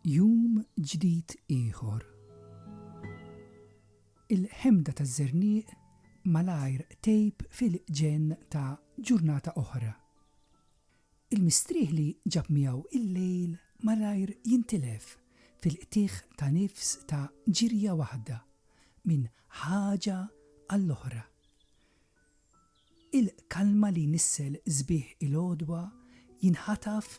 Jum ġdid ieħor. Il-ħemda ta' żerniq malajr tejb fil-ġenn ta' ġurnata oħra. Il-mistrieħ li ġab miegħu l-lejl malajr jintilef fil-qtigħ ta' nifs ta' ġirja waħda minn ħaġa għall-oħra. Il-kalma li jnissel sbieħ il-għodwa jinħataf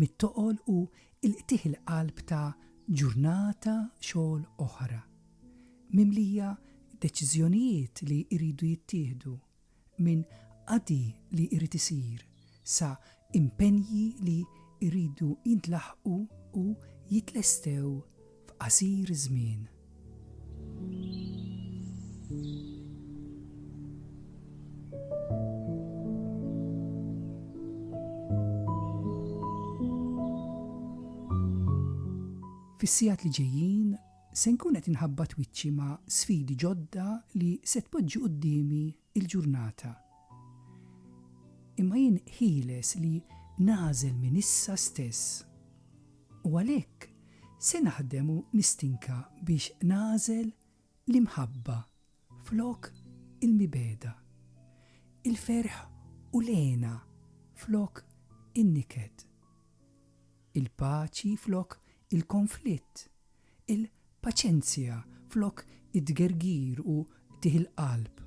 mit-toqol u l-qtigħ il-qalb ta' ġurnata xogħol oħra, mimlija deċiżjonijiet li jridu jittieħdu. minn qadi li jrid isir sa impenji li jridu jintlaħqu u jitlestew f'qasir żmien. Fis-sigħat li ġejjin Se nkun qed inħabbat wiċċi ma' sfidi ġodda li se tpoġġi quddiemi l-ġurnata. Imma jien ħieles li nagħżel minn issa stess. U għalhekk se naħdem u nistinka biex nagħżel l-imħabba flok il-mibegħda, il-ferħ u l-hena flok in-niket. Il-paċi flok il-konflitt, il-paċenzja flok it-tgergir u qtigħ il-qalb,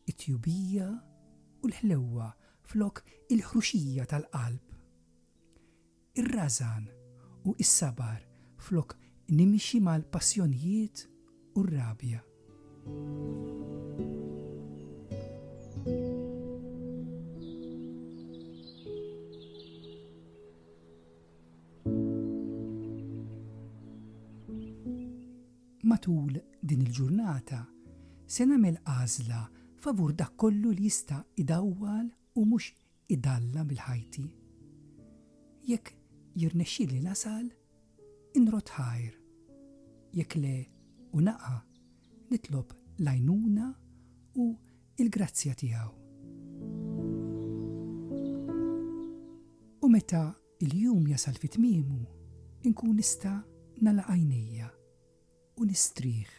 it-tjubija u l-ħlewwa flok il-ħruxija tal-qalb, ir-rażan u s-sabar flok nimxi mal-passjonijiet u r-rabja. Matul din il-ġurnata se nagħmel għażla favur dak kollu li jista' idawwal u mhux idallam il-ħajti. Jekk jirnexxili nasal, inrodd ħajr, jekk le u naqa', nitlob l-għajnuna u l-grazzja tiegħu. U meta il-jum jasal fi tmiemu, inkun nista' nagħlaq għajnejja u nistrieħ